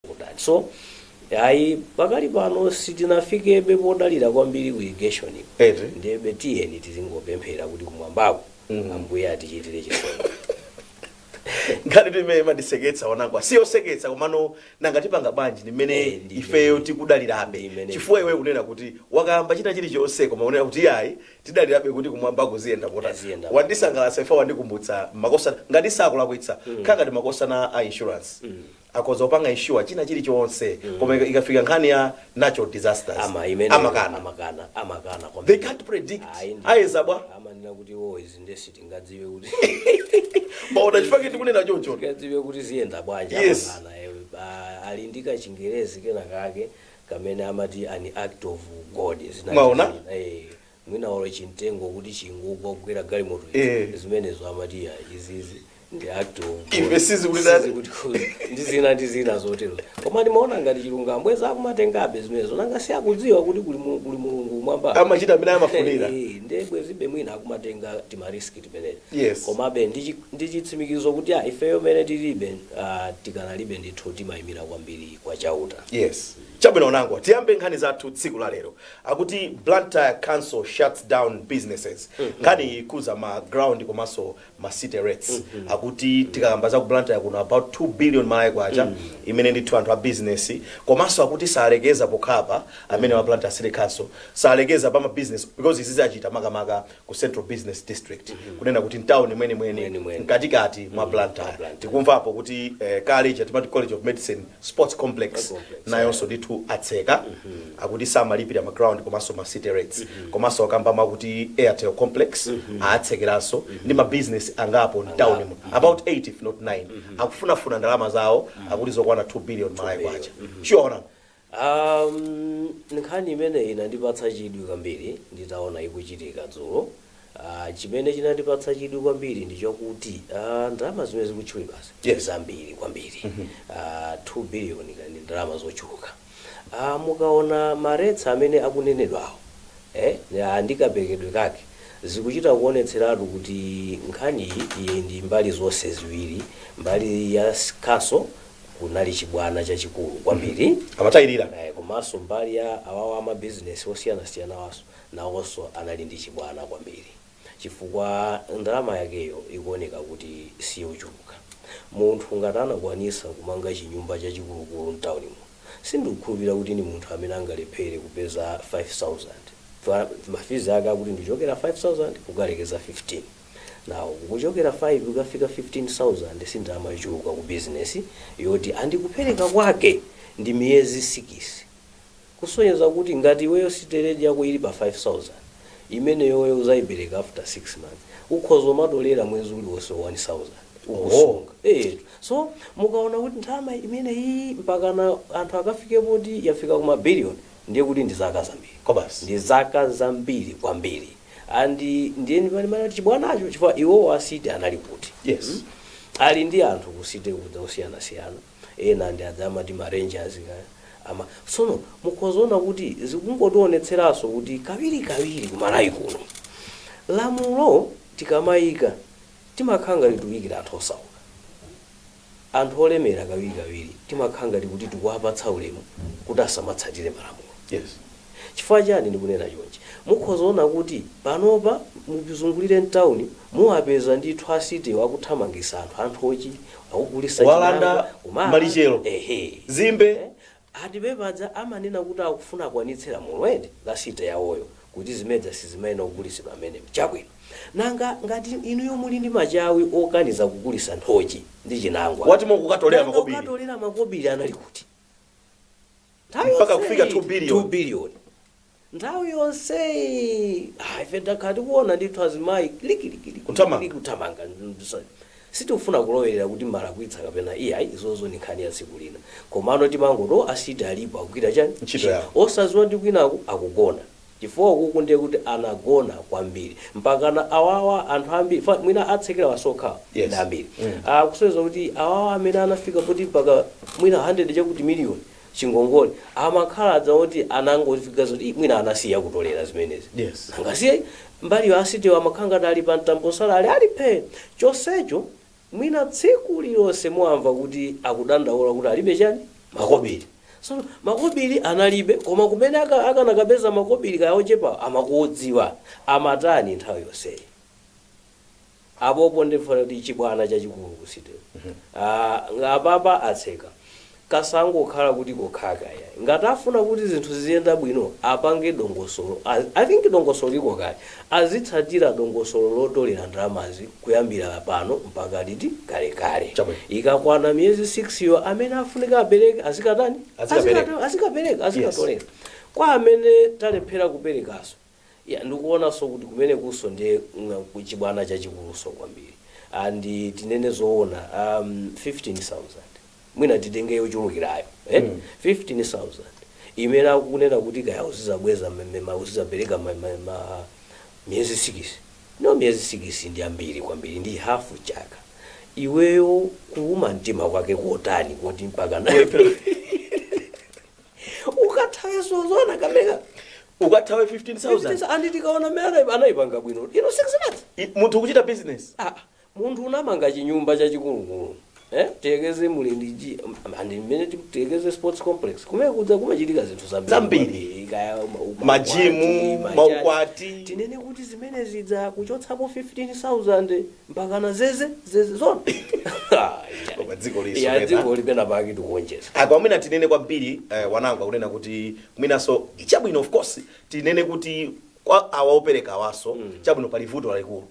kutani so ayi pakali pano sitinafikebe podalira kwambiri ku irrigation Eti? ndebe tiyeni tizingopemphera kuti kumwambako Mm. ambuye atichitire chisomo nkhanitu imene imandiseketsa Wanangwa si yoseketsa komano nanga tipanga bwanji ndi mmene Eh, ndi ifeyo imene. tikudalirabe Ndi imene. chifukwa iwe kunena kuti wakayamba chita chilichonse koma unena kuti ayi tidalirabe kuti kumwamba kuziyenda kota Aziyenda. wandisangalatsa ife wandikumbutsa makosana ngati sakulakwitsa khala ngati makosana a insurance akhoza kupanga insure china chili chonse koma ika- ikafika nkhani ya natural disasters ama imene amakana amakana amakana kwa they can't predict Ayi, ndi- ayeza bwa amanena kuti iwo izi nde sitingadziwe kuti mwaona chifukwa chi tikunena chocho tingadziwe kuti ziyenda bwanji Yes. amakana ewe Ba- ali ndi kachingerezi kena kake kamene amati an act of god zina- Mwaona? zina- eh, mwina olo chimtengo kuti chingogwa kugwera galimoto ija Eh. zimenezo amati ya izizi ndi act of God. Ife sizikutitani. Sizikutikhuza. ndi zina ndi zina zotero koma ndimaona ngati chilungamo bwezi akumatengabe zimenezo nanga si akudziwa kuti kuli mu- kuli mulungu kumwamba Amachita mmene amafunira. Eh, ndiye bwezibe mwina akumatenga timariski timeneti Yes. komabe ndi chi- ndi chitsimikizo kuti a ifeyo mmene tilibe ah, tikanalibe ndithu timayimira kwambiri kwa chauta yes chabwino Wanangwa tiyambe nkhani zathu tsiku la lero Akuti Blantyre council shuts down businesses nkhaniyi ikhuza ma ground komanso ma city rates akuti tikakamba za ku Blantyre kuno about 2 billion malawi kwacha imene ndithu anthu a business komanso akuti salekeza pokhapa amenewa a Blantyre city council salekeza pa ma business because izizi achita makamaka ku central business district kunena kuti mtown mwenimweni Mwenimweni. mkatikati mwa Blantyre Blantyre. tikumvapo kuti eh, college timati college of medicine sports complex nayonso ndithu atseka akuti samalipira ma ground komanso ma city rates komanso akamba makuti airtel complex aatsekeranso ndi ma business angapo mtown mu about 8 if not 9 akufunafuna ndalama zawo akuti zokwana 2 billion malawi kwacha chiona um, nkhani imene inandipatsa chidwi kwambiri nditaona ikuchitika dzulo Aaa chimene chinandipatsa chidwi kwambiri ndi chokuti aaa ndalama zimene zikutchulidwazi ndi zambiri kwambiri aaa 2 billion kwacha ndi ndalama zochuluka aaa mukaona ma rates amene akunenedwawo ee aaa ndi kaperekedwe kake zikuchita kuonetseratu kuti nkhaniyi ili ndi mbali zonse ziwiri mbali ya Council kunali chibwana chachikulu kwambiri Amatayirira. ee komanso mbali ya awawa ama business osiyanasiyanawanso nawonso anali ndi chibwana kwambiri chifukwa ndalama yakeyo ikuoneka kuti siyochuluka. Munthu ngati anakwanisa kumanga chinyumba chachikulukulu mtaunimo sindikukhulupilira kuti ndi munthu amene angalephere kupeza 5000 chifukwa ma fizi ake akuti ndikuchokera 5000 kukalekeza 15 now kuchokera 5 kukafika 15000 si ndalama yochuluka ku bizinesi yoti and kupereka kwake ndi miyezi sikisi Kusonyeza kuti ngati iweyo city rate yako ili pa 5000 imeneyoyo uzaipereka after 6 months ukhoza kumatolera mwezi uliwonse 1000 ukusunga eetu so mukaona kuti ndalama imeneyii mpakana anthu akafike poti yafika kuma billion ndiye kuti ndi zaka zambiri Kobasi. ndi zaka zambiri kwambiri and ndiye ndimati kuti chibwanacho chifukwa iwowo a City anali kuti Yes. ali ndi anthu ku City kuja osiyanasiyana ena ndi aja amati ma rangers ama sono mukhoza kuona kuti zikungotionetseranso kuti kawiri kawiri ku Malawi kuno lamulo tikamayika timakhala ngati tikuyikira anthu osauka anthu olemera kawiri kawiri timakhala ngati kuti tikuwapatsa ulemu kuti asamatsatire malamulo yes Chifukwa chiyani ndikunena chonchi? Mukhoza kuona kuti panopa mukazungulira mtauni muwapeza ndithu a Citywo akuthamangisa anthu anthochi, akugulisa Kuwalanda chimanga, kumaba, malichero, ehe. zimbe. Eh? Ati pepa paja amanena kuti akufuna akwanitse lamulo eti, la City yawoyo, kuti zimezija sizimayenera kugulisidwa mmenemo. Chabwino. Nanga ngati inuyo muli ndi machawi okaniza kugulisa nthochi ndi chinangwa, Bwanji mukukatolera nanga makobiri. okatolera makobiri anali kuti? Nthawi mpaka yonseyi, kufika 2 billion 2 billion nthawi yonseyi ah, ife takhala tikuona ndithu azimayi likilikili Kuthamanga. kuthamanga sitikufuna kulowerera kuti amalakwitsa kapena iyayi izozo ni nkhani ya tsiku lina komano timangoto a City alipo akugwira chani Ntchito yawo. osaziwa ndi kwinaku akugona chifukwa ukuku ndiye kuti anagona kwambiri mpakana awawa anthu ambiri fa- mwina atsekera waokha Yes. ndi ambiri Mm. kusonyeza kuti awawa amene anafika poti mpaka mwina 100 chakuti miliyoni chingongole amakhala aja oti anangofika zoti "Ih, mwina anasiya kutolera zimenezi Yes. anangoisiya mbaliyo a Citywa amakhala ngati ali pa mtambo salale ali phe chonsecho Mwina tsiku lililonse muamva kuti akudandaula kuti alibe chani? makobili. Tsono makobili analibe koma kumene aka akanakapeza makobili kaya ochepawo amakudziwa amatani nthawi yonseyi? Apopo nde ndikuona kuti chibwana chachikulu ku City. Nga apapa atseka. kasangokhala kuti kokhaka iyayi ngati afuna kuti zinthu ziziyenda bwino apange dongosolo i think dongosolo liko kale azitsatira dongosolo lotolera ndalamazi kuyambira pano mpaka liti kalekale Chabwino. ikakwana miyezi 6 yo amene afunika apereke azikatani Azikapereka. Azikata- azikapereka azikatolera kwa amene alephera kuperekaso Yeah ndikuonanso kuti kumenekunso ndiye chibwana chachikulunso kwambiri and tinene zoona um, 15000 mwina titenge yochulukirayo eh? mm. 15000 imene akunena kuti kaya uzizabweza mmema uzizapereka ma, ma, ma, miyezi 6 no miyezi 6 ndi ambiri kwambiri ndi hafu chaka iweyo kuuma mtima kwake kotani koti mpaka nayo ukathawe zoona kameka ukathawe 15000 andi tikaona mmene anaipanga bwino ino 6 months I- munthu kuchita business ah munthu unamanga chinyumba chachikulukulu eh Tekeze Mlindiji andi mmene tekeze sports complex kumene kuja kumachitika zinthu zambiri Zambiri. Kwambiri, kaya ma- ukwati, Majimu, machaji. maukwati. tinene kuti zimene zija kuchotsapo 15000 mpakana zeze zeze zoona Koma dziko liso ya pena. dziko lipena pake tikuonjeza apa mwina tinene kwambiri eh, Wanangwa akunena kuti mwinaso chabwino of course tinene kuti kwa awa opereka awaso chabwino pali vuto lalikulu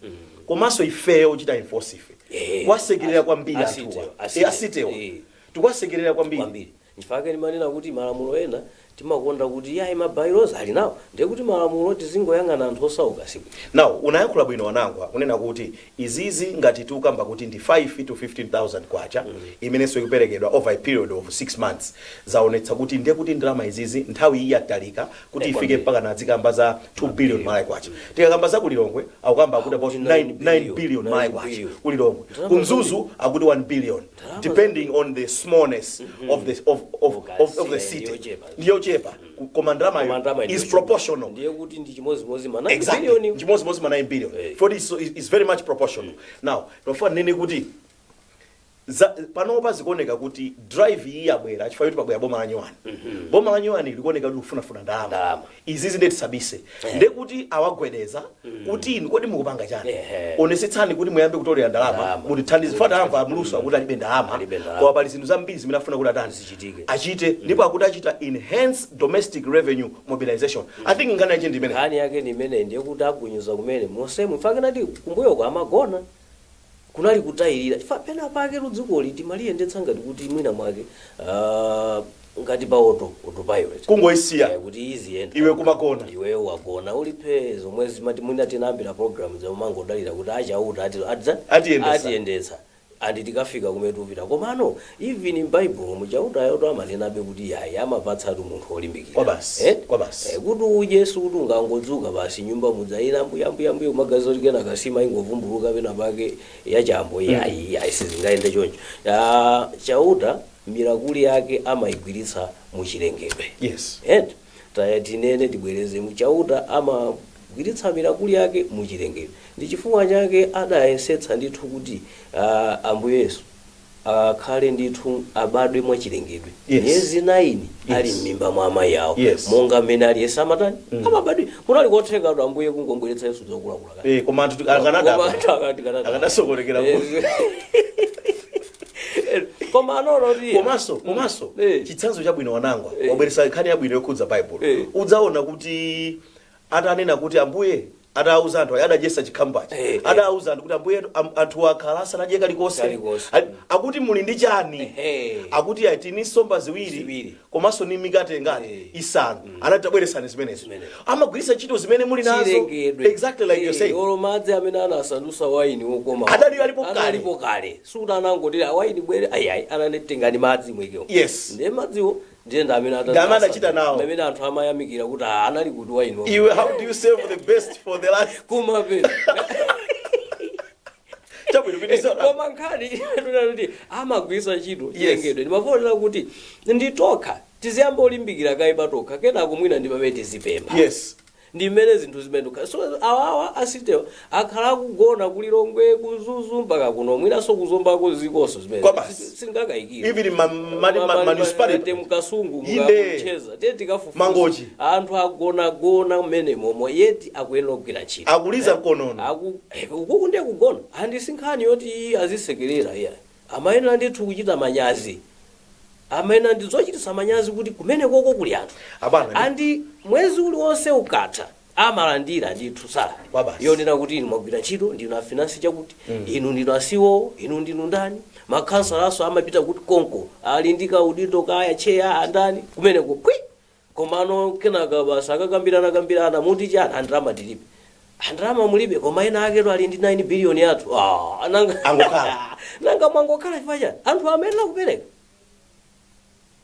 komanso ifeyo ochita enforce ife Eh, tikuwasekerera kwambiri asitewo, anthuwa asitewo. Eh, asitewo Eh. tikuwasekerera kwambiri Kwambiri. Nchifukwa chake ndimanena kuti malamulo ena timakonda kuti iyayi ma bylaws alinawo ndiye kuti malamulo oti tizingoyang'ana anthu osauka sibwino. Now unayankhula bwino Wanangwa kunena kuti izizi ngati tikukamba kuti ndi 5 to 15000 kwacha imenenso ikuperekedwa over a period of 6 months zaonetsa kuti ndiye kuti ndalama izizi nthawi iyi yatalika kuti ifike Kwambiri. mpakana adzikamba za 2 billion malawi kwacha tikakamba za ku Lilongwe akukamba akuti about Akuti 9 nine 9 billion billion malawi nine kwacha billion. ku Lilongwe Ndalama ku Mzuzu akuti 1 billion depending on the smallness of the of of of, of the city Yochepa. ndiyochepa koma Koma ndalama ndalamayo is ndiyochepa. proportional ndiye kuti ndi chimodzimodzi ma 9 exactly billion chimodzimodzi ma 9 billion Eh. for this so is is very much proportional now ndikufuna ndinene kuti za- panopa zikuoneka kuti drive iyi yabwera chifukwa kuti pabwera boma la nyuwani boma la nyuwani likuoneka kuti kufunafuna ndalama Ndalama. izizi nde tisabise Eh. nde kuti awagwedeza kuti inu kodi mukupanga chani Ehe. onesetsani kuti muyambe kutolera ndalama Ndalama. mutithandize after amva a Mlusu akuti alibe ndalama Alibe ndalama. koma pali zinthu zambiri zimene afuna kuti atani Zichitike. achite ndipo akuti achita enhance domestic revenue mobilization i think nkhani yake ndi imeneyi nkhani yake ndi imeneyi ndiye kuti agunyuza kumene monsemu nchifukwa chake ndati kumbuyoko amagona kunali kutayirira chifukwa pena pake dzikoli timaliyendetsa ngati kuti mwina mwake uh, ngati pa auto autopilot kungoisiya eh, kuti iziyenda iwe kumagona iweyo wagona uli phe zomwe zimati mwina tinayambira program zomangodalira kuti achauta ati adza Atiyendetsa. atiyendetsa andi tikafika kumene tikupita komano Even m'baibulomu Chautayotu amanenabe kuti yayi amapatsatu munthu olimbikira Kwabasi, eti kwabasi. Eh, kuti udye sikuti ungangodzuka basi nyumba mudzayira mbuyambuyambuya kumaganiza kuti kenaka nsima ingovumbuluka pena pake yachambo yayi yayi sizingayende choncho Ah, chauta mirakuli yake amaigwiritsa muchilengedwe Yes. eti tiye tinene tibwereze kuti Chauta amagwiritsa mirakuli yake muchilengedwe ndi chifukwa chake adayesetsa ndithu kuti ah, Ambuye Yesu akhale ndithu abadwe mwachilengedwe Yes. miyezi 9 Yes. ali m'mimba mwa amayi awo Yes. monga mmene aliyense amatani amabadwira kunali kotheka kuti ambuye kungobweretsa Yesu wokulakula kale. Eh, koma anthu Koma akanadabwa anthu akanada. akadasokonekera Eh, kuti eh, koma anaona kuti komanso komanso Eh. chitsanzo chabwino wanangwa Eh. wabweretsa nkhani yabwino yokhudza baibulo Eh. udzaona kuti atanena kuti, Ambuye atawauza anthu aja, adadyetsa chikhamu paja, Eh, eh. adawauza anthu kuti, Ambuyetu, am- anthuwa akhala asanadye kalikonse. Kalikonse. A- Akuti muli ndi chani? Ehe. Akuti ayi, tili ndi nsomba ziwiri Ziwiri. komanso ni mikate ingati Eh. isanu. Anati tabweresani zimenezo. Zimenezo. Amagwiritsa ntchito zimene muli nazo. chilengedwe Exactly like you're saying. olo madzi amene anasandutsa waini wokoma Adali alipo kale. analipo kale sikuti anangoti waini bwere ayiayi anati tengani madzi muikemo Yes. ndiye madziwo Ndiye ndi amene Ndi amene adachita nawo. adadzasa amene anthu amayamikira kuti "Ah, anali kuti waini uyu how do you save the best for the last kumapeto chabwino pitiriza koma nkhani yonena kuti amagwiritsa ntchito chilengedwe ndimafuna kunena kuti ifetokha tiziyamba kulimbikira kaye patokha kenako mwina ndi pamene tizipempha yes ndi mmene zinthu zimayendera so awawa a city-wa akhala akugona ku Lilongwe ku Mzuzu mpaka kuno mwinanso ku Zombako ziliko nzo zimene Kwa basi. sindingakayikire Even ma- ma- ma- ma- municipality. ku Kasungu Inde. mukamucheza tiye tikafufuza Mangochi. anthu agonagona mmenemomo yet akuyenera kugwira ntchito Akuliza mkonono. Aku- eh, ukoko ndiye kugona and si nkhani yoti azisekerera iyayi Amayenera ndithu kuchita manyazi. Amayenera ndi zochititsa manyazi kuti kumenekoko kuli anthu. Abwana, ndi- And mwezi uliwonse ukatha amalandira ndithu salary Kwabasi. yonena kuti inu mwagwira ntchito ndinu afinansi chakuti inu ndinu a CEO inu ndinu ndani makhansalanso amapita kuti konko ali ndi kaudindo kaya tcheya andani kumeneko pwi Komano kenaka basi akakambirana kambirana akuti chani ah ndalama tilibe ah ndalama mulibe koma enaaketu ali ndi 9 billion yathu ah nanga Angokhala. nanga mwangokhala chifukwa chani anthu amayenera kupereka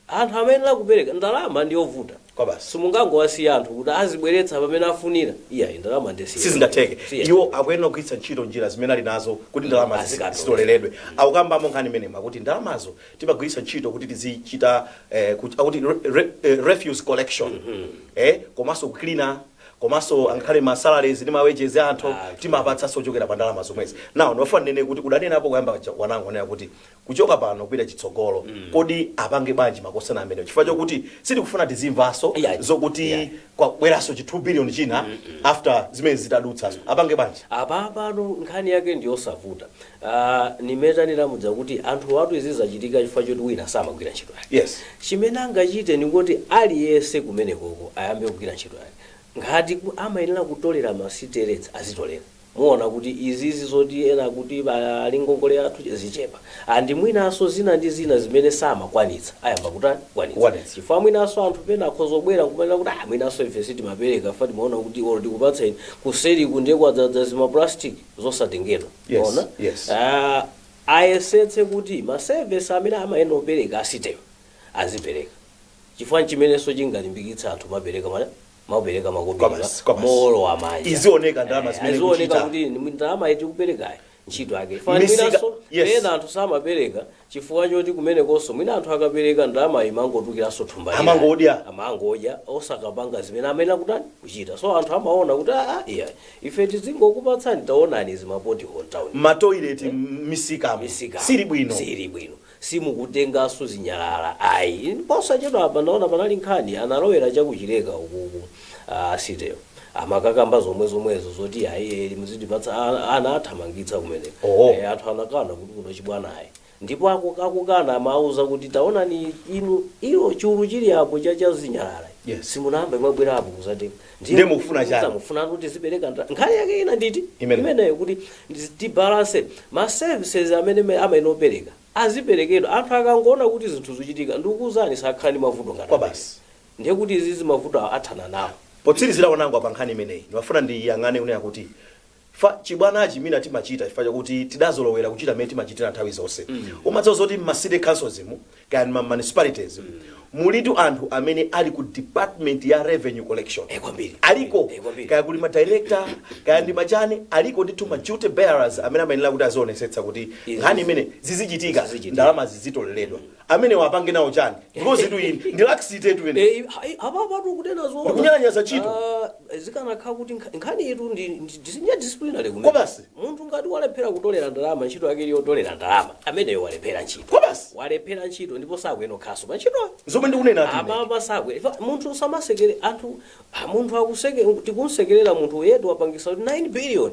anthu amayenera kupereka ndalama ndi yovuta Kwa basi. simungangowasiya anthu kuti azibweretsa pamene afunira iyayi ndalama siya sizingatheke Siya. iwo akuyenera kugwiritsa ntchito njira zimene ali nazo kuti ndalamazi Azikatola. zitoleredwe akukambamo nkhani imeneyi kuti ndalamazo timagwiritsa ntchito kuti tizichita eh, kuti, akuti re, re, eh, refuse collection eh, komanso kucleaner komanso angakhale ma salaries ndi ma wages a anthu timapatsanso kuchokera pa ndalama zomwezi now ndofuna ndinene kuti udanenapo kuyamba cha- Wanangwa kunena kuti kuchoka pano kupita chitsogolo kodi apange bwanji makhansala amenewo chifukwa chokuti sitikufuna tizimvanso Yeah. zokuti Yeah. kwabweranso chi 2 billion china after zimene zitadutsazo apange bwanji apa pano nkhani yake ndiyosavuta Aaa mmene tanena muja kuti anthuwatu izi zachitika chifukwa choti wina samagwira ntchito yake. Yes. Chimene angachite ndi kuti aliyense kumenekoko ayambe kugwira ntchito yake. Ngati ku amayenera kutolera ma city rates azitolera. Muona kuti izizi zoti ena akuti ba ali ngongole yathu zichepa. And mwinanso zina ndi zina zimene samakwanitsa ayamba kutani kukwanitsa. Kukwanitsa. Chifukwa mwinanso anthu pena akhoza kubwera n'kumanena kuti aah mwinanso ife sitimapereka chifukwa timaona kuti or tikupatsa inu kuseriku ndiye kwadzaza zima plastic zosatengedwa. Yes, Ona? yes. Ah, ayesetse kuti ma service amene amayenera kupereka a city-wo azipereka chifukwa ndi chimenenso chingalimbikitse anthu kumapereka mana kumapereka makobiri Kwa basi, kwa basi. mowolowa manja Izioneka ndalama Eh, zimene izioneka kuchita. kuti ndalama yoti kuperekayo ntchito yake Misika- Fananso, yes. ena anthu samapereka chifukwa choti kumenekonso mwina anthu akapereka ndalamayo imangotulukiranso thumba lina. Amangodya. amangodya osakapanga zimene amayenera kutani kuchita so anthu amaona kuti aa iya ife tizingokupatsani taonani izi ma pothole m'town matoilet misika misikamo simuli bwino sili bwino simukutenganso zinyalala ayi posachedwa apa ndaona panali nkhani analowera cha ku Chileka ukuku A city-wo amakakamba zomwezomwezo zoti ayi eli muzitipatsa a- ana athamangitsa kumeneko Oho. Eh, anthu anakana kuti kuno chibwana ayi ndipo aku- akukana amauza kuti taonani inu ilo chulu chili apo cha cha zinyalala Yes. simunayamba mwabwera apo kudzatenga Ndiye mukufuna chani? mufuna kuti tizipereka ndra- nkhani yake ine nditi Imene. imeneyo kuti ndi- tibalance ma services amene me- amayenera kupereka aziperekedwa anthu akangoona kuti zinthu zikuchitika ndikukuuzani sakhala ndi mavuto ngati Kwa amene. basi. Ndiye kuti izizi mavuto awa athana nawo. Potsirizira Wanangwa pa nkhani imeneyi ndimafuna ndiyang'ane kunena kuti fa chibwanachi mwina timachita chifukwa chakuti tidazolowera kuchita mmene timachitira nthawi zonse. Umadziwa zoti m'ma city councils mu kaya ndi ma municipalities mu mulitu anthu amene ali ku department ya revenue collection Eh kwambiri aliko eh kwambiri. kaya kuli ma director kaya ndi machani aliko ndithu ma duty bearers amene amayenera kuti azionetsetsa kuti nkhani Izizi imene zizichitika zizichitika. ndalamazi zizitoleredwa. amenewa apange nawo chani because itu iyi ndi laxity tu iyi Eh, hai- apapatu kunena zoona. Ndikunyalanyaza ntchito. Ah, zikanakhala kuti nkha- nkhani yetu ndi ndi- ndi- ndi disciplinary kunena. Kwa basi. munthu ngati walephera kutolera ndalama ntchito yake ili yotolera ndalama ameneyo walephera ntchito Kwa basi. walephera ntchito ndipo sakuyenera kukhalanso pa ntchitoyo zomwe ndikunena ati ine. apa sakwe Ifa- munthu samasekerera anthu ah, munthu akuseke tikumsekerera munthu yet wapangitsa kuti 9 billion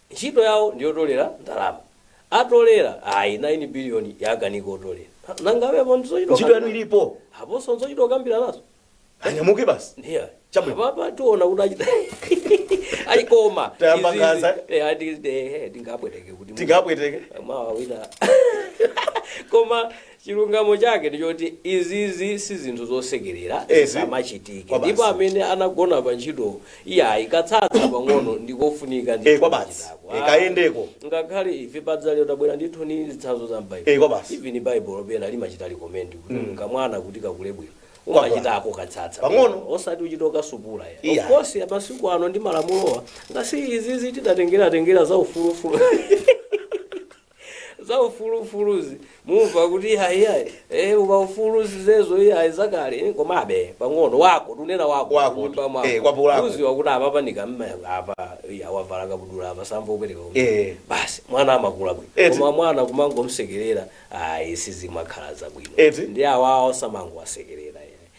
Ntchito yawo ndi yotolera ndalama. Atolera? Ayi, 9 billion yakanika kotolera. Ha, nanga iwe apo ndizochita Ntchito yanu okambirana? ilipo. Aponso nzochita okambiranazo? Eh? Anyamuke basi. Ndiye ayi. Chabwino. Apapa tiona kuti achita. Ayi koma. Tayamba izizi- nkhanza. Eh, ati eh, eh, tingapweteke kuti. Tingapweteke. Mawa wina. Koma Chilungamo chake ndi choti izizi si zinthu zosekelera, Ehe. zisamachitike. Kwa Ndipo basi. amene anagona pa ntchitowo, iyayi, katsatsa pang'ono ndi kofunika Eh, ndithu kwa basi. kuchitako. Eh, Ah, kayendeko. Ngakhale ife padzalero tabwera ndithu ndi zitsanzo za m'Baibulo. Eh, kwa basi. Even Baibulo pena limachita recommend kuti Mm. kamwana kuti kakule bwino. Kwa basi. Umachitako katsatsa. Pang'ono. Osati uchito kasupula ya. Iya. Of course, masiku ano ndi malamulowa. Ngati izizi tidatengera tengera za ufulufulu. za ufulu ufuluzi mumva kuti iyayi iyayi eh ukaufulu zizezo iyayi zakale komabe pang'ono wako tunena wako Wako, kunyumba mwako. eh, kwapo lako. uziwa kuti apa panika mmanga apa iya wavala kabudula apa samva upereka uyu. Eh. basi mwana amakula bwino Eti. koma mwana kumangomsekerera ayi sizimakhala zabwino Eti. ndi awawa osamangowasekerera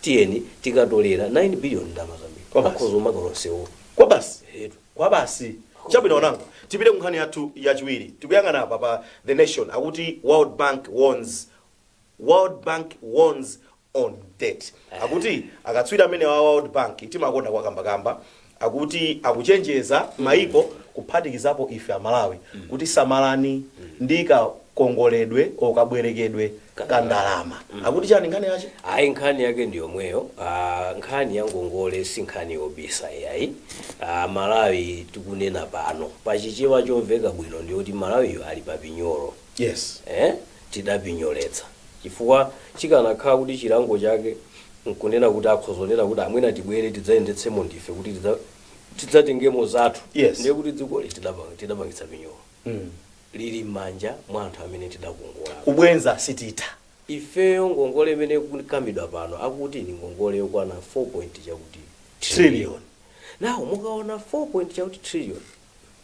tiyeni tikatolera 9 billion ndalama zambiri Kwabasi. akhoza kumanga lonsewo kwabasi Etu. kwabasi chabwino onano tipite kunkhani yathu yachiwiri tikuyang'ana apa pa the nation akuti world bank warns world bank warns on debt akuti akatswiri amene wa world bank timakonda kuwakambakamba Akuti akuchenjeza maiko kuphatikizapo ife a Malawi kuti samalani ndi kakongoledwe or kabwerekedwe ka ndalama. Akuti chani nkhani yache? Ayi nkhani yake ndi yomweyo uh, nkhani ya ngongole si nkhani yobisa iyayi uh, malawi tikunena pano pa chichewa chomveka bwino ndiyoti malawiyo ali pa pinyolo Yes. eh? tidapinyoletsa chifukwa chikanakhala kuti chilango chake nkunena kuti akhoza kunena kuti amwene tibwere tidzayendetsemo ndife kuti tidza- tidzatengemo zathu Yes. ndiye kuti dzikoli tidapanga- tidapangitsa pinyolo Mm. lili m'manja mwa anthu amene tidakongola kubwenza sititha ifeyo ngongole imene ikukambidwa pano akuti ni ngongole yokwana 4 point chakuti Trillion. nawo mukaona 4 point chakuti trillion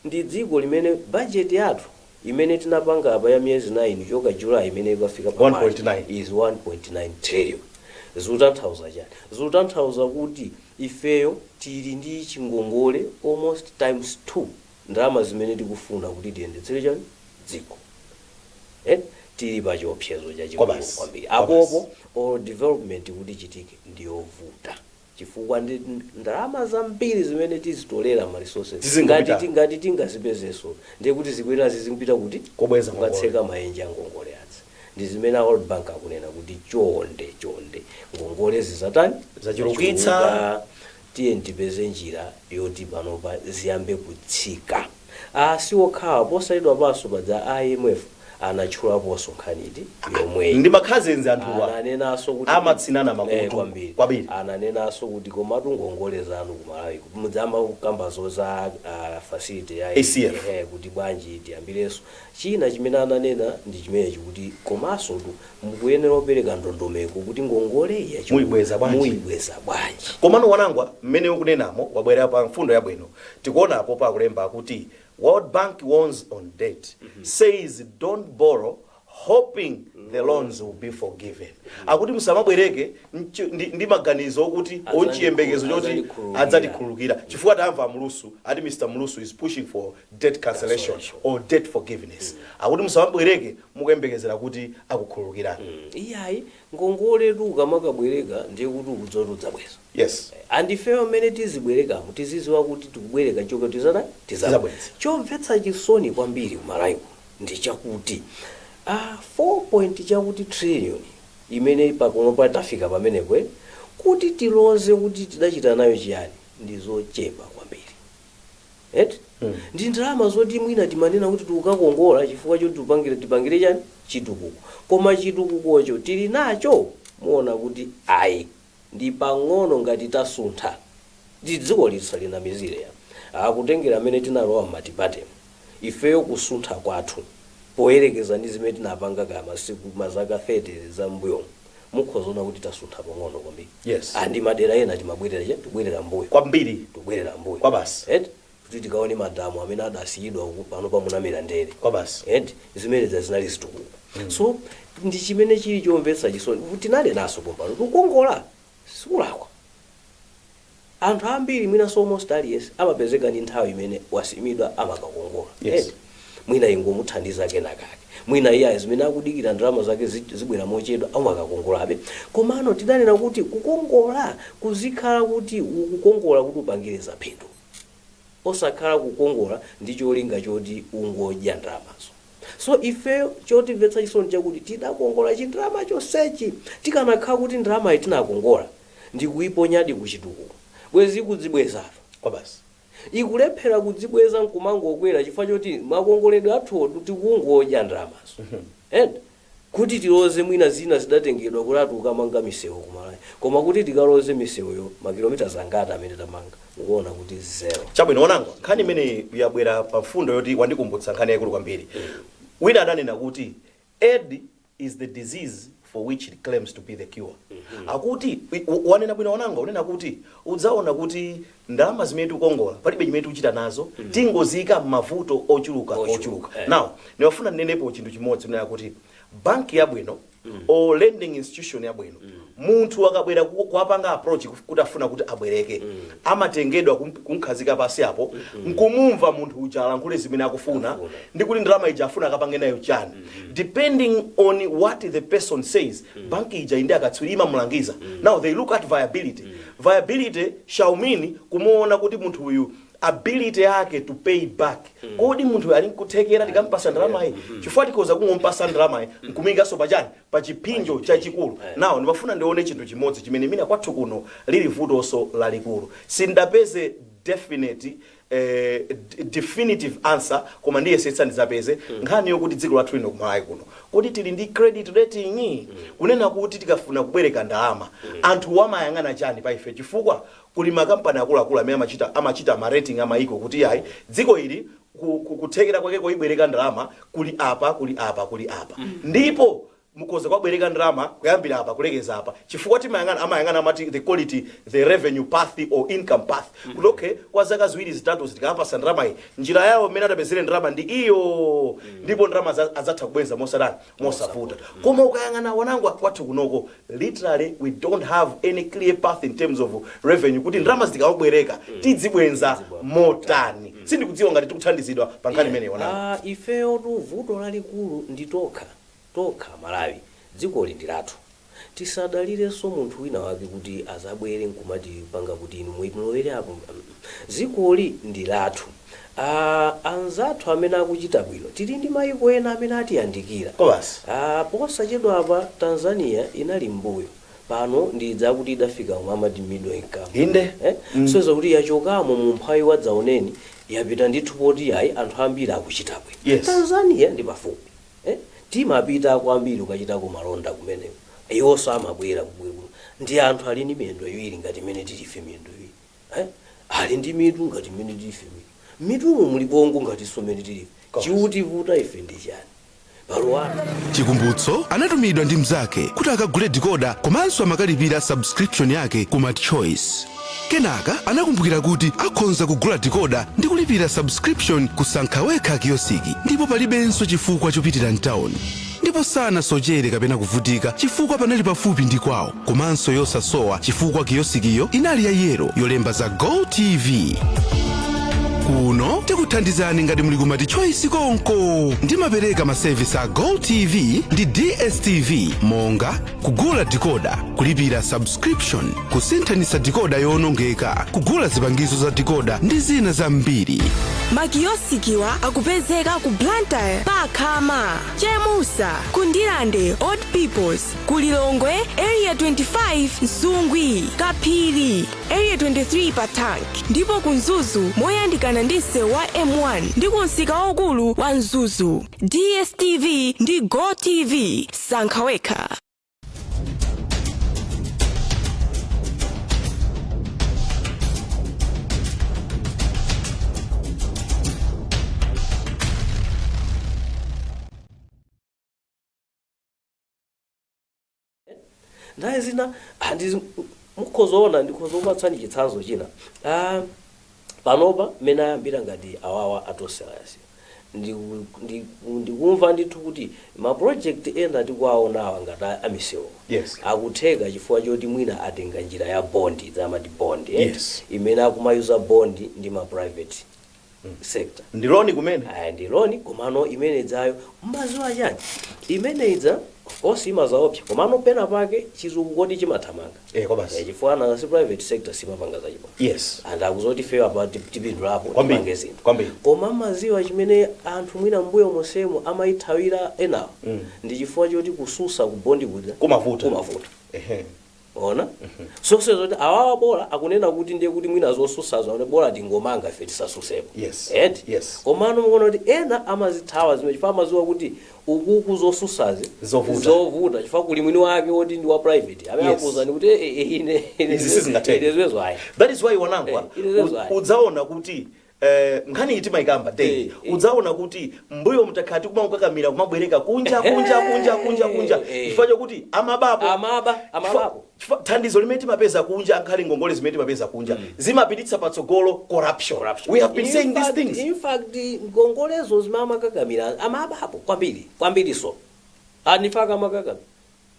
ndi dziko limene budget yathu imene tinapanga apa ya miyezi 9 kuchoka July imene ikafika pa March 1.9. is 1.9 trillion. Zikutanthauza chani? Zikutanthauza kuti ifeyo tili ndi chingongole almost times 2 ndalama zimene tikufuna kuti tiyendetsere chani dziko. Eh? Tili pa chiopsezo chachikulu Kwabasi, kwambiri. kwabasi. Apopo or development kuti ichitike ndiyovuta. chifukwa ndi ndalama zambiri zimene tizitolera ma resources ngati Zizingopita. ti- ngati tingazipezenso ndiye kuti zikuyenera zizingopita kuti Kobweza ngongole. kukatseka maenje a ngongole azi ndi zimene a world bank akunena kuti chonde chonde ngongole zazitani Zachulukitsa. Zachuluka. tiye tipeze njira yoti panopa ziyambe kutsika A si okhawa, posachedwapanso paja a IMF anatchulaponso nkhani iti yomweyi. Ndi makhaza enzi anthuwa Ananenanso kuti amatsinana mm eeh makutu kwambiri. kwabiri. Ananenanso kuti komatu ngongole zanu ku Malawiko mudzayamba kukambazo za aah facility ya ECF. eeh kuti bwanji tiyambirenso. China chimene ananena ndi chimenechi kuti komansotu mukuyenera kupereka ndondomeko kuti ngongole yachulukayi Muibweza bwanji? muibweza bwanji. Komano Wanangwa mmene ukunenamo wabwera pa mfundo yabwino. Tikuona apopo akulemba akuti world bank warns on debt, says don't borrow hoping the loans will be forgiven. Akuti musamabwereke nchi- ndi, ndi maganizo okuti Adzandikhulu- onchiyembekezo choti adzandikhululukira. adzatikhululukira chifukwa tamva a Mlusu ati mr Mlusu is pushing for debt cancellation or debt forgiveness akuti musamabwereke mukuyembekezera kuti akukhululukirani iyayi ngongole ukamakabwereka ndiye kuti ukadzatu udzabweze Yes. And ifeyo mmene tizibwerekamo tiziziwa kuti tikubwereka chomwe tizatani? Tizabweze. Chomvetsa chisoni kwambiri ku Malawi kuno ndi chakuti 4 point chakuti trillion imene panopa tafika pamenepo eti, kuti tiloze kuti tidachita nayo chiyani ndi zochepa kwambiri. Eti? Ndi ndalama zoti mwina timanena kuti tikukakongola chifukwa choti tupangire, tipangire chani? Chitukuko. Koma chitukukocho tili nacho? Muona kuti ayi. ndi pang'ono ngati tasuntha ngati dzikoli tisalinamizile ayi kutengela mene tinalowa m'matipatemu ifeyo kusuntha kwathu poyelekeza ndi zimene tinapanga kaya masiku ma zaka 30 za mmbuyomu mukhoza ona kuti tasuntha pang'ono kwambiri Yes. and madera ena timabwelela chani tubwelela mmbuyo kwambiri tubwelela mmbuyo kwabasi eti kuti tikaone madamu amene adasiyidwa uku panopa anamera ndere Kwabasi. eti zimenezi zinali zitukuko so ndi chimene chili chomvetsa chisoni tinanenaso pompano kukongola sikulakwa anthu ambiri mwinaso almost aliyense amapezeka ndi nthawi imene wasimidwa amakakongola Yes. Eti, mwina ingomuthandizako kenakake mwina iyayi zimene akudikira ndalama zake zi- zibwera mochedwa amakakongolabe komano tidanena kuti kukongola kuzikhala kuti ukukongola kuti upangire zaphindu osakhala kukongola ndi cholinga choti ungodya ndalamazo so ifeyo chotimvetsa chisoni chakuti tidakongola chindalama chonsechi tikanakhala kuti ndalamayi tinakongola ndikuiponyadi ku chitukuko bwezi ikudzibwezatu kwabasi ikulephera kudzibweza nkumangokwera chifukwa choti makongoledwe athuwo tikungodya ndalamazo and Kuti tiloze mwina zina zidatengedwa kuti ati tukamanga misewu ku Malawi koma kuti tikaloze misewuyo makilometers angati amene tamanga mukuona kuti zero. Chabwino, Wanangwa, nkhani imeneyi yabwera pa mfundo yoti wandikumbutsa nkhani yaikulu kwambiri. Wina adanena kuti aid is the disease for which it claims to be the cure. Akuti, wanena bwino Wanangwa, unena kuti udzaona kuti ndalama zimene tikukongola palibe chimene tikuchita nazo tikungodziika m'mavuto ochuluka Ochuluka, ochuluka eh. now ndimafuna ndinenepo chinthu chimodzi kunena kuti banki yabwino or lending institution yabwino munthu akabwera ku- kuwapanga approach kuf- kuti afuna kuti abwereke amatengedwa kum- kumkhazika pasi apo nkumumva munthu uja alankhule zimene akufuna Akufuna. ndi kuti ndalama ija afuna akapange nayo chani depending on what the person says banki ija ili ndi akatswiri imamulangiza now they look at viability viability shall mean kumuona kuti munthu uyu ability yake to pay back kodi munthuyu ali nkuthekera tikampasa ndalamayi chifukwa tikhoza kungompasa ndalamayi nkumuikanso pa chani pa chiphinjo chachikulu now ndimafuna ndione chinthu chimodzi chimene mwina kwathu kuno lili vutonso lalikulu sindidapeze definite eh, d- definitive answer koma ndiyesetsa ndizapeze nkhani yokuti dziko lathu lino kumalawi kuno kodi tili ndi credit rating kunena kuti tikafuna kubwereka ndalama anthu wamayang'ana chani pa ife chifukwa kuli makampani akuluakulu amene amachita ma rating amayiko kuti ayi dziko ili ku- ku- kuthekera kwake koibwereka ndalama kuli apa kuli apa kuli apa ndipo mukhoza kuwabwereka ndalama kuyambira apa kulekeza apa chifukwa timayang'ana amayang'ana amati they call it the revenue path or income path mm -hmm. kuti okay kwa zaka ziwiri zitatu tikawapasa ndalama iyi njira yawo mmene atapezere ndalama ndi iyo mm -hmm. ndipo ndalama za- adzatha kubwenza mosatani mosavuta koma ukayang'ana wanangu kwathu kunoko literally we don't have any clear path in terms of revenue kuti ndalama zi tikabwereka tidzibwenza motani sindikudziwa ngati tikuthandizidwa pa nkhani imeneyi wanangu Ah, ifeyo tu vuto lalikulu ndi tokha tokha amalawi dzikoli ndilathu tisadalirenso munthu wina wake kuti azabwere nkumatipanga kuti inu mulowere apo mm dzikoli ndilathu aa anzathu amene akuchita bwino tili ndi maiko ena amene atiyandikira aa posachedwapa tanzania inali m'mbuyo pano ndi idzi akuti idafika omwe amati middle income Inde. eh? Mm. so zakuti yachokamo mu mphawi wadzaoneni yapita ndithu poti ayi anthu ambiri akuchita bwino Yes. tanzania ndi pafupi Eh? Timapita kwambiri kukachitako malonda kumeneko. Iwonso amabwera kumbuyo kuno. Ndi anthu ali ndi miyendo iwiri ngati mmene tili ife miyendo iwiri. Eh? Ali ndi mitu ngati mmene tili ife mitu. M'mitumo muli bongo ngatinso mmene tili ife. Chikutivuta ife ndi chani? Malo athu. Chikumbutso anatumidwa ndi mzake kuti akagule decoder komanso amakalipira subscription yake ku Multichoice. Kenaka anakumbukira kuti akhonza kugula decoder ndi kulipira subscription ku sankha wekha kiyosiki ndipo palibenso chifukwa chopitira m'tawuni. Ndipo sanasochere kapena kuvutika chifukwa panali pafupi ndi kwawo komanso yosasowa chifukwa kiyosikiyo inali ya yero yolemba za GoTV. Kuno tikuthandizani ngati muli ku Multichoice konko. Ndimapereka masevisi a GoTV ndi DSTV monga kugula dikoda kulipira subscription kusinthanitsa dikoda yowonongeka kugula zipangizo za dikoda ndi zina zambiri makiyosikiwa akupezeka ku blantyre pa khama chemusa ku ndirande old peoples ku lilongwe area 25 msungwi kaphiri area 23 pa tank ndipo ku mzuzu moyandikana ndi msewu wa m1 ndi ku msika waukulu wa mzuzu dstv ndi gotv sankha wekha nthawi zina ah, ndi- mukhoza ona ndikhoza kupatsani chitsanzo china ah, panopa mmene ayambira ngati awawa a tonse alliance Ndiku- ndiku- ndikumva ndithu kuti mapulojekiti ena tikuwaonawa ngati a- amisewu Yes. akutheka chifukwa choti mwina atenga njira ya bondi zamati bondi eh? Yes. imene akumayuzer bondi ndi ma private sector ndi loan kumene aya ndi loan komano imene idzayo mmadziwa chani imene idza of course imazaopsa komano pena pake chizungu kodi chimathamanga Eh, kobasi. Eh, chifukwa nanga si private sector simapanga zachibwana yes anthu akuzoti fewa pa tip- tipindulapo Kwambiri, tipange zinthu kwambiri. koma mmadziwa chimene anthu mwina mbuyo monsemo amayithawira enawo Mm. ndi chifukwa choti kususa kubondi kuja Kumavuta. kumavuta Ehe. Mwaona? Zosonyeza kuti awawa bola akunena kuti ndiye kuti mwina zosusazo ai bola tingomanga ife tisasusepo. Yes. Eti? Yes. Komano mukuona kuti ena amazithawa zimene chifukwa amadziwa kuti ukuku zosusazi Zovuta. zovuta chifukwa kuli mwini wake woti ndi wa private amene Yes. akuuzani kuti "Eh, eh, ine Izi sizingatheke." ine zimenezo ayi. that is why wawanangwa Eh, it is u- right. udzaona kuti Eh, nkhani iyi timayikamba day Eh, eh. udzaona kuti mbuyo mtakhala tikumakukakamira kumabwereka kunja kunja kunja kunja kunja Eh, eh. chifukwa chokuti amabapo Amaba, Chifukwa- amabapo. chifukwa thandizo limene timapeza kunja angakhale ngongole zimene timapeza kunja zimapititsa patsogolo corruption. Corruption. we have been In saying these fact- things in fact ngongole zimene amakakamira amabapo kwambiri kwambiriso n'chifukwa makakamira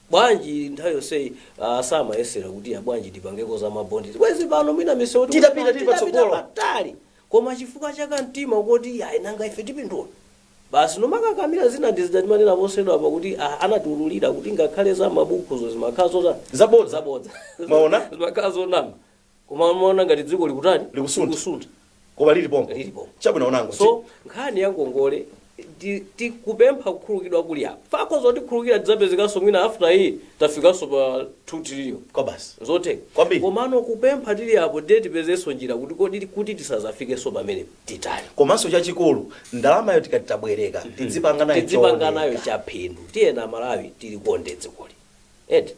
bwanji nthawi yonseyi ah, samayesera kuti ah, bwanji tipangeko za mabondi bwezi pano mwina misewu tikuti Titapita pano, tili patsogolo. patali koma chifukwa cha kamtima koti ayi nanga ife tipindula basi nkumakakamira zina ndi zija timanena posachedwa apa kuti ah, anatiululira kuti ngakhale za mabukuzo zimakhala zotani Zabodza. zabodza Mwaona? zimakhala zonama koma amaona ngati dziko likutani Likusuntha. likusuntha koma lili pompo Lili pompo. chabwino Wonangwa so nkhani ya ngongole ti- tikupempha kukhululukidwa kuli apa fakho zotikhululukira tidzapezekanso mwina after iyi tafikanso pa 2 trillion kobasi zotheka Kwambiri. komano kupempha tili apo ndiye tipezenso njira kuti kodi kuti tisazafikenso pamene tilili komanso chachikulu ndalamayo tikati tabwereka tidzipanga nayo tidzipanga nayo chaphindu tiyeni amalawi tilikonde dzikoli eti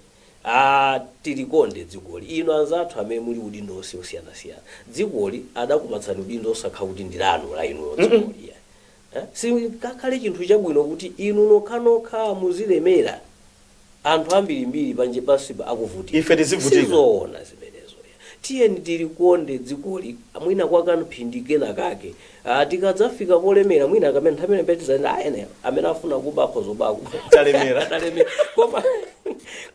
aah tilikonde dzikoli inu anzathu amene muli udindo onse osiyanasiyana dzikoli adakupatsani udindo osakhala kuti ndi lanu la inulo dzikoli iya eh? sichingakhale chinthu chabwino kuti inu nokhanokha muzilemera anthu ambirimbiri panja pansipa akuvutika ife tizivutika sizoona zimenezo Tiyeni tilikonde dzikoli mwina kwa kamphindi kena kake. Aaa tikadzafika polemera mwina kaya nthawi imene tidzanene aah aliyense amene afuna kuba akhoza kuba akuba. Talemera talemera koma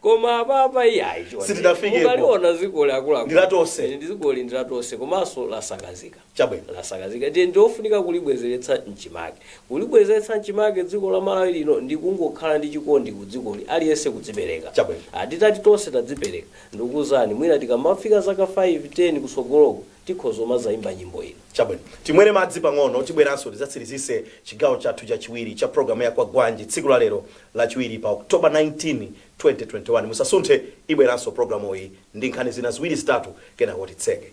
koma apapa iyayi chonde. Sitidafikepo. Mukaliona dzikoli akuluakulu. Ndi la tonse. Dzikoli ndi la tonse komanso lasakazika. Chabwino, lasakazika, ndiye ndi lofunika kulibwezeretsa m'chimake. Kulibwezeretsa m'chimake dziko la Malawi lino ndi kungokhala ndi chikondi ku dzikoli, aliyense kudzipereka. Chabwino, ah, titati tonse tadzipereka, ndikukuuzani, mwina tikamafika zaka 5, 10 kutsogoloku, tikhoza kumadzaimba nyimbo ina. Chabwino, timwere madzi pang'ono, tibweranso tidzatsirizitse chigawo chathu chachiwiri cha programu ya Kwagwanji tsiku la lero, Lachiwiri, pa October 19, 2021. Musasunthe, ibweranso programuyi ndi nkhani zina ziwiri zitatu, kenako titseke.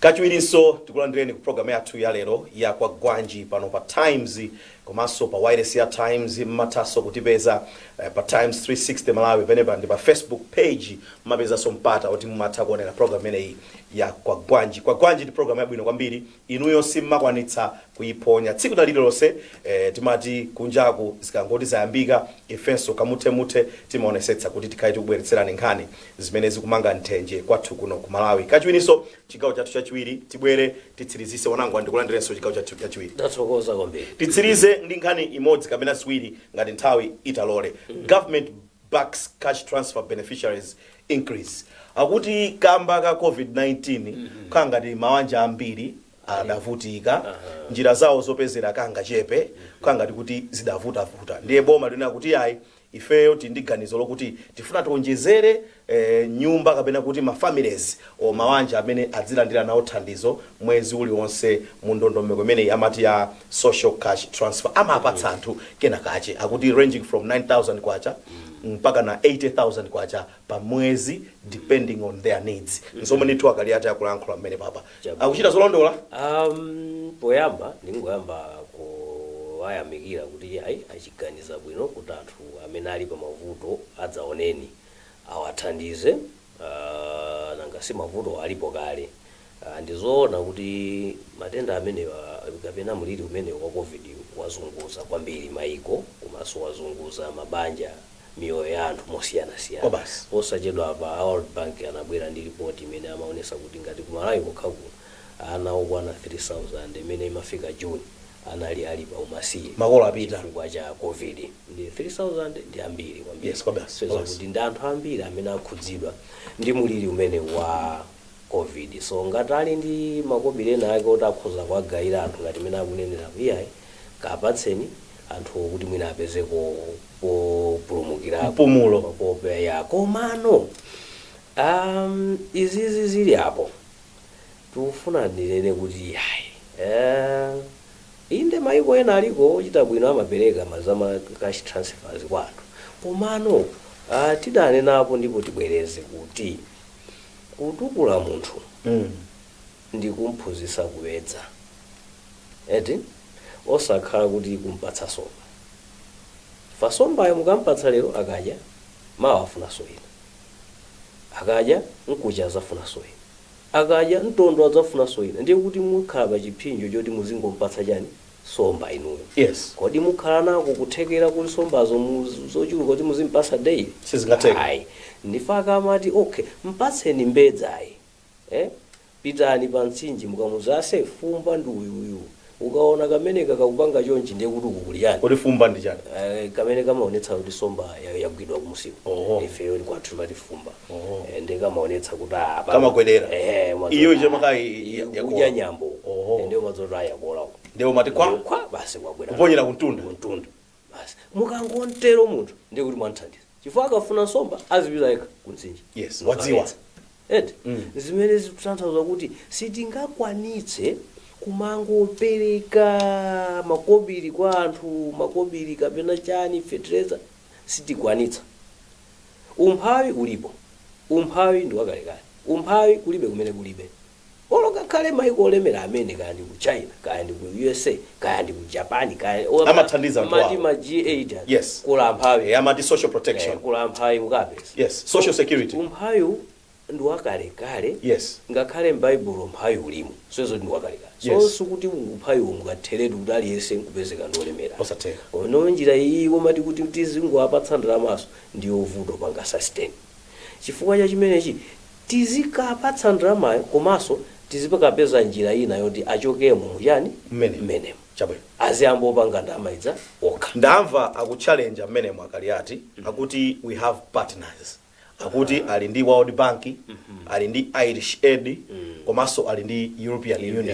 kachiwirinso tikulandireni ku programu yathu ya lero ya kwagwanji pano pa times komanso pa wailesi ya Times mmathanso kutipeza pa Times 360 Malawi penepa ndi pa Facebook page mmapezanso mpata oti mumatha kuonera program imeneyi ya kwagwanji. Kwagwanji ndi program yabwino kwambiri inuyo simmakwanitsa kuiphonya tsiku na lililonse eh, timati kunjaku zikangoti zayambika ifenso kamuthemuthe timaonesetsa kuti tikhale tikubweretserani nkhani zimene zikumanga nthenje kwathu kuno ku Malawi kachiwirinso chigawo chathu chachiwiri tibwere titsirizitse onangwa ndikulandirenso chigawo chathu chachiwiri ndathokoza kwambiri titsirize ndi nkhani imodzi kapena ziwiri ngati nthawi italole government backs cash transfer beneficiaries increase akuti kamba ka covid-19 khala ngati mawanja ambiri adavutika njira zawo zopezera kangachepe khala ngati kuti zidavutavuta ndiye boma likunena kuti ayi ifeyo tili ndi ganizo lokuti tifuna tionjezere nyumba kapena kuti ma families or mawanja amene adzilandira nawo thandizo mwezi uliwonse mu ndondomeko imeneyi amati ya social cash transfer amapatsa anthu kena kache akuti ranging from K9000 mpakana K80,000 pa mwezi depending on their needs nzomwe ndithu a Kaliati akulankhula pamene papa Chabwino. akuchita zolondola Um, poyamba ndingoyamba kuwayamikira kuti ayi achiganiza bwino kuti anthu amene ali pa mavuto adzaoneni awathandize uh, nanga si mavuto alipo kale uh, ndizoona kuti matenda amenewa kapena mliri umenewu wa covid wazunguza kwambiri maiko komanso wazunguza mabanja miyoyo ya anthu mosiyanasiyana. Kwabasi. Posachedwapa a World Bank anabwera ndi report imene amaonesa kuti ngati ku Malawi kokha kuno ana okwana 3000 imene imafika June anali ali pa umasiye Makolo apita. chifukwa cha Covid. Ndi 3000 ndi ambiri kwambiri. Yes, kwabasi, kwabasi. kuti ndi anthu ambiri amene akhudzidwa ndi muliri umenewu wa Covid. So ngati ali ndi makobiri ena ake oti akhoza kuwagawira anthu ngati mmene akuneneramo iyayi kapatseni anthuwo kuti mwina apezeko populumukirako. Mpumulo. Popeya komano amh izizi zili apo tikufuna tinene kuti iyayi amh inde maiko ena aliko ochita bwino amapereka ma za ma cash transfers kwa anthu komano amh tidanenapo ndipo tibwereze kuti kutukula munthu mm. ndi kumphunzitsa kuwedza eti osakhala kuti kumpatsa somba fa sombayo mukampatsa lero akadya mawa afunanso ina akadya mkuja azafunanso ina akadya mtondo azafunanso ina ndiye kuti mukhala pa chipsinjo choti muzingompatsa chani somba inuyo yes kodi mukhala nako kuthekera kuti sombazo muz zochuluka kuti muzimpatsa daily sizingatheke ayi ndi faka amati ok mpatseni mbedza iyi eh pitani pa mtsinje mukamuuze ase fumba ndi uyu uyu ukaona kamene kakakupanga chonchi ndiye kuti uku kuli chani kodi fumba ndi chani Eh, kamene kamaonetsa kuti somba ya- yagwidwa kumusiko Oho. ifeyo kwathu timati fumba Eh, ndiye kamaonetsa kuti ah, pa- Kamagwedera. Eh, mwazo- Iyo icho maka i- i- iyo yakola. kudya nyambo Oho. Eh, ndiye mwaziwa kuti a yakola Ndiye umati kwa? kwa basi kwabwera Kuponyera kuntunda. kuntunda basi mukangontero munthu ndiye kuti mwanthandiza chifukwa akafuna nsomba azipita yekha kuntsinje Yes, wadziwa. eti zimene zikutanthauza kuti sitingakwanitse kumangopereka makobiri kwa anthu makobiri kapena chani fetereza sitikwanitsa Umphawi ulipo. Umphawi ndi wakalekale. Umphawi kulibe kumene kulibe. Olo ngakhale maiko olemera amene kaya ndi ku China kaya ndi ku USA kaya ndi ku Japan kaya o ama Amathandiza anthu amati awo. ma G8 aja Yes. kuli amphawi. Eh, amati social protection. Eh, kuli amphawi mukapeza. Yes, social security. Umphawi ndi wakalekale Yes. ngakhale m'baibulo umphawi ulimo so zoti ndi wakalekale so Yes. sikuti umphawiwo ungatheretu kuti aliyense nkupezeka ndi olemera Osatheka. ono njira iyi yomati kuti tizingowapatsa ndalamaso ndi yovuta kupanga sustain chifukwa cha chimenechi tizikapatsa ndalamayo komanso tizikapeza njira ina yoti achokemo muchani Mmene. mmenemo Chabwino. aziyamba opanga ndalama ija okha ndamva akuchallenge mmenemo a kaliati akuti we have partners akuti ali ndi world bank ali ndi irish aid komanso ali ndi European Union.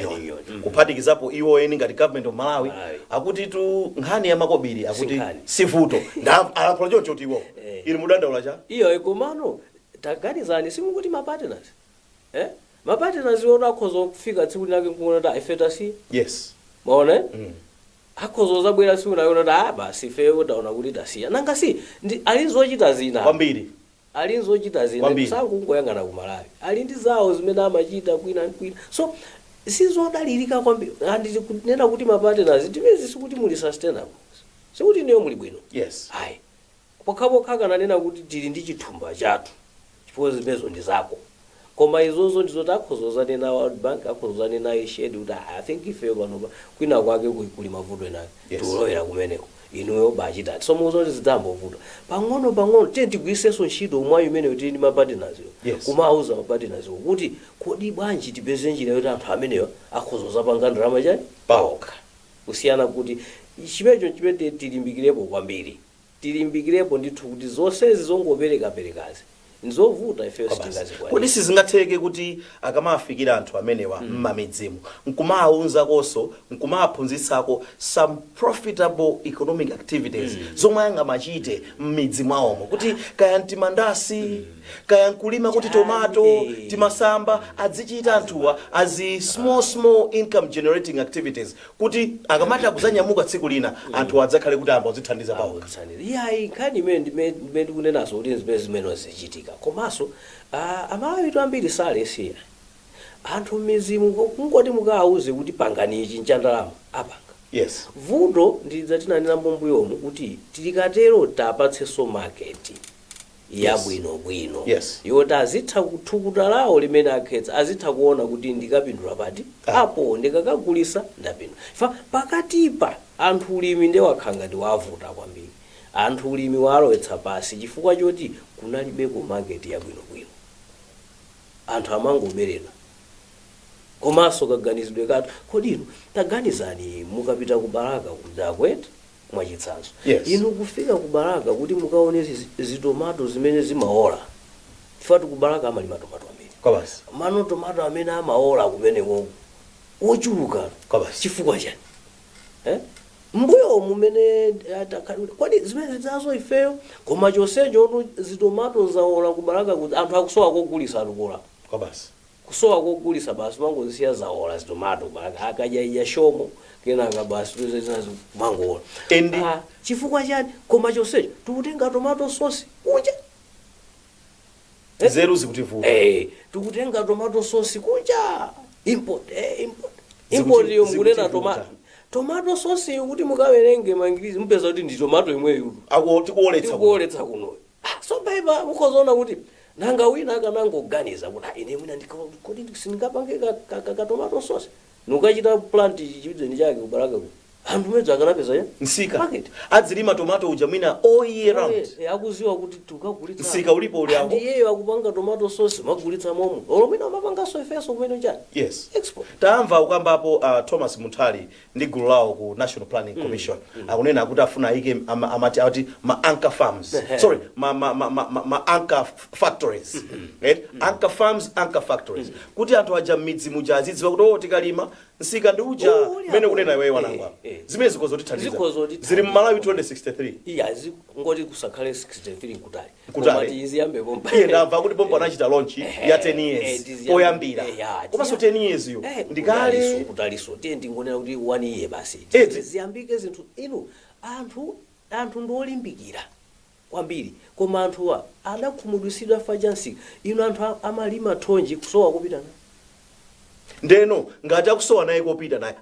Mhm. kuphatikizapo iwo eni ngati government of Malawi. akuti tu nkhani ya makobiri akuti sivuto Nda- alankhula choncho kuti iwo Eh. ili musadandaule chaiyo komano taganizani simukuti mapartners eh? mapartners iwo akhoza kufika tsiku linake nkuona kuti ah ife tasiya yes mwaona eh? Mm. akhoza kuzabwera tsiku lina kuti ah basi ifeyo taona kuti tasiya nanga si ndi ali ndi zochita zina kwambiri ali ndi zochita zina Kwambiri. sakungoyang'ana ku malawi ali ndi zawo zimene amachita kwina ndi kwina so sizodalirika kwambiri and kunena kuti mapatenazi times sikuti muli sustainable sikuti inuyo muli bwino yes ayi Pokhapokha akananena kuti tili ndi chithumba chathu chifukwa zimenezo ndi zako. Koma izozo ndi zoti akhoza kuzanena World Bank, akhoza kuzanena Irish Aid kuti ah I think ifeyo panopa kwina kwake ku kuli mavuto ena ake. Yes. Tikulowera kumeneko. Inuyo bachitani. So mukuona kuti zidzangovuta. Pang'ono pang'ono tiyeni tigwiritsenso ntchito mwayi umenewu tili ndi ma partners wo. Yes. Kumawauza ma partners wo kuti kodi bwanji tipeze njira yoti anthu amenewa akhoza kuzapanga ndalama chani? Paokha. Kusiyana kuti chimenecho n'chimene tiyeni tilimbikirepo kwambiri. tilimbikirepo ndithu kuti zonsezi zongoperekaperekazi nzovuta ifeyo Kwabasi. kodi sitingazikwanitse sizingatheke kuti akamawafikira anthu amenewa mmamidzimu nkumawauzakonso nkumawaphunzitsako some profitable economic activities zomwe angamachite mmidzi mwawomo kuti kaya mtimandasi kaya nkulima kuti tomato Eh. timasamba adzichita anthuwa as small small income generating activities kuti akamati akuzanyamuka tsiku lina anthuwa adzakhale kuti ayamba kudzithandiza pawokha. akutsanira iyayi nkhani imene ndime- ndimene tikunenazo kuti zimene zimene zichitika komanso ah, aMalawitu ambiri si alesi ayi anthu m'mizimu ko- kungoti mukawauze kuti pangani ichi nchandalama apanga Yes. vuto ndi lija tinanena mbombuyomu kuti akatero tiwapatsenso maketi Yes. yabwinobwino Yes. yoti azitha thukuta lawo limene akhetsa azitha kuona kuti ndikapindula pati Ah. apo ndikakagulisa ndapindula chifukwa pakatipa anthu ulimi nde wakhala ngati wavuta kwambiri anthu ulimi walowetsa pansi chifukwa choti kunalibeko maketi yabwinobwino anthu amangoberedwa komanso kaganizidwe kathu kodi inu taganizani mukapita ku Balaka kuja kwathu mwachitsanzo Yes. inu kufika ku Balaka kuti mukaone zi- zitomato zimene zimaola chifukwa ku Balaka amalima tomato ambiri kwabasi komano tomato amene amaola kumene uko wochuluka Kwabasi. chifukwa chani eh? mbuyo mumene atakhalira kodi zimene zazo ifeyo koma chonsecho ono zitomato zaola ku Balaka kuti anthu akusowa kogulisa akukolola kwabasi Kusowa kogulisa basi umangozisiya zawola zitomato basi akadya idya Shomo kenaka basi tuze zinazi kumangowola and ah chifukwa chani koma chonsecho tikutenga tomato sosi kunja eh nzeru zikutivuta eh tikutenga tomato sosi kunja import eh import import yo mukunena tomato tomato sosi yo kuti mukawerenge ma ingredients mupeza kuti ndi tomato yomweyo tikuwoletsa kuno Ha! Tsopano, inu a, mukhoza kuona kuti, nanga wina akanangoganiza kuti, ha, ine mwina ndika, kodi ndi- sindingapange ka, ka, ka, ka tomato sauce? Ndikukachita plant chi- chimachini chake ku Balaka kuno. Anthu bwenzi akanapeza ya? Msika. Market. Adzilima tomato uja mwina all year round. Oye, eh, akuziwa kuti tikagulitsa. Msika ulipo uli apo. Ndiye iyeyo akupanga tomato sauce kumagulitsa momo. Olo mwina kumapanganso ifenso kumene chani? Yes. Export. tamva ukambapo uh, thomas munthali ndi gulu lawo ku national planning commission akunena kuti afuna aike ama- amati ati ma anchor firms Ehe. sorry ma, ma, ma, ma, ma, ma anchor f- factories right? anchor firms anchor factories kuti anthu aja mmidzi muja azidziwa kuti o tikalima msika ndi uja Oh, uli mmene apo. kunena iweyo Wanangwa Eh, eh. zimene zikhoza Zikhoza kutithandiza kutithandiza. zili mmalawi 2063 iya zi- ngoti kusakhale 63 kutali Kutali. Koma ziyambe pompa. Iye ndamva kuti pompa anachita launch ya 10 Eh, years tiziyambe- poyambira. eh, ya, Komanso tiziya- 10 years yo. Eh, Ndikale. kutaliso, kutaliso tiye ndingonena kuti one year basi Eti. ziyambike zinthu inu anthu anthu ndiolimbikira kwambiri koma anthuwa adakhumudwitsidwa for example inu anthu a- amalima thonje kusowa kopita naye ndeno ngati akusowa naye kopita naye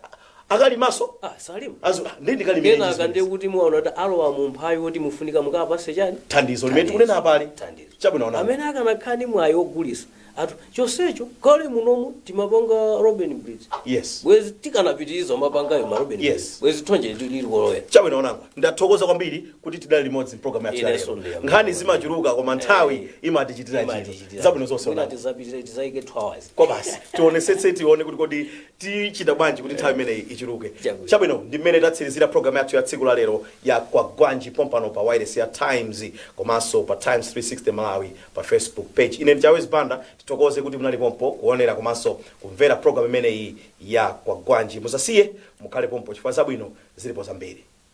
akalimaso ah salima azo ndi kenaka ndi alimi amene ndiye kuti muwaona kuti alowa mu umphawi woti mufunika mukapase chani thandizo limene tikunena apali. Thandizo. chabwino Wanangwa amene akanakhala ni mwayi ogulisa anthu chonsecho kale munomu timapanga robin bridge yes bwezi tikanapitiriza mapangayo ma robin Yes. bridge bwezi thonje likulowa chabwino Wanangwa ndathokoza kwambiri kuti tidali limodzi mpulogalamu yathu ya Inenso lero ndiyamba nkhani kuona. zimachuluka koma nthawi Eh. imatichitira chinthu Imatichitira. zabwino zonse Mwina Wanangwa tizapitire tizaike 2 hours kwa basi tionesetse tione kuti kodi tichita bwanji kuti nthawi imeneyi ichuluke Chabwino. chabwino ndi mmene tatsirizira programu yathu ya tsiku la lero ya kwagwanji pompano pa wailesi ya times komanso pa times 360 malawi pa facebook page ine ndi chawezi banda tithokoze kuti munali pompo kuonera komanso kumvera programu imeneyi ya kwagwanji musasiye mukhale pompo chifukwa zabwino zilipo zambiri